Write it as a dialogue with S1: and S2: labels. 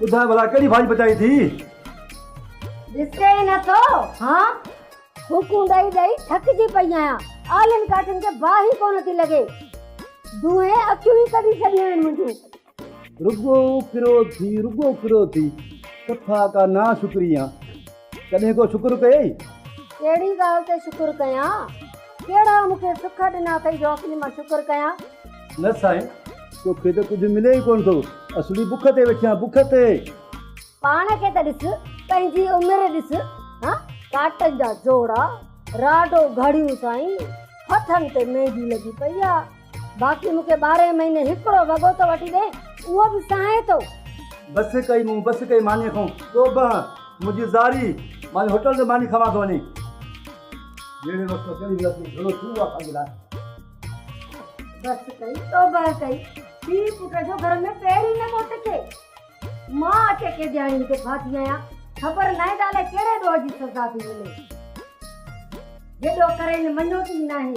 S1: ٻڌاء ڀلا ڪهڙي ڀاڄي پچائين ٿي؟
S2: ڏسي نه ٿو هان ڦوڪون ڏئي ڏئي ٿڪجي پئي آهيان آلن ڪاٺن کي باهه ئي ڪونه ٿي لڳي دونهين اکيون ئي ڪڍي ڇڏيون آهن منهنجون. رڳو ڪرو ٿي
S1: رڳو ڪرو ٿي ڪٿا ڪا ناشڪري آن. ڪڏهن ڪو شڪر ڪيئي؟ ڪهڙي ڳالهه
S2: تي شڪر ڪيان؟ ڪهڙا مون کي سک ڏنا اٿئي جو اصلي مان شڪر ڪيان؟ نه سائين،
S1: توکي ته ڪجهه ملي ئي ڪونه ٿو، اصلي بک تي ويٺي آهيان، بک تي. پاڻ
S2: کي ته ڏس، پنهنجي عمر ڏس، ها ڪاٽن جا جوڙا، راڊو گهڙيون سائين، هٿن تي ميندي لڳي پئي آهي. باقي مون کي ٻارهين مهيني هڪڙو وڳو ته وٺي ڏي اهو به سهائي ٿو. بس ڪئي
S1: مون بس ڪئي مانيء کان ڪو بنهه منهنجي زاري مان هوٽل تي ماني کاوان ٿو وڃي جهڙي وقت ته چڙهي ويس ٿي گهڻو ٿيندو آهي پنهنجي لاء.
S2: بس ڪئي تو بنهه ڪئي ٿي پٽ جو گهر ۾ پير ئي نه ٿو ٽڪي مان اٽي ڪي ڏياڙين تي ڦاٿي آهيان خبر ناهي ته الائي ڪهڙي ڏوهه جي سزا ٿي ملي جيڏو ڪرين مڃو ٿي ناهي.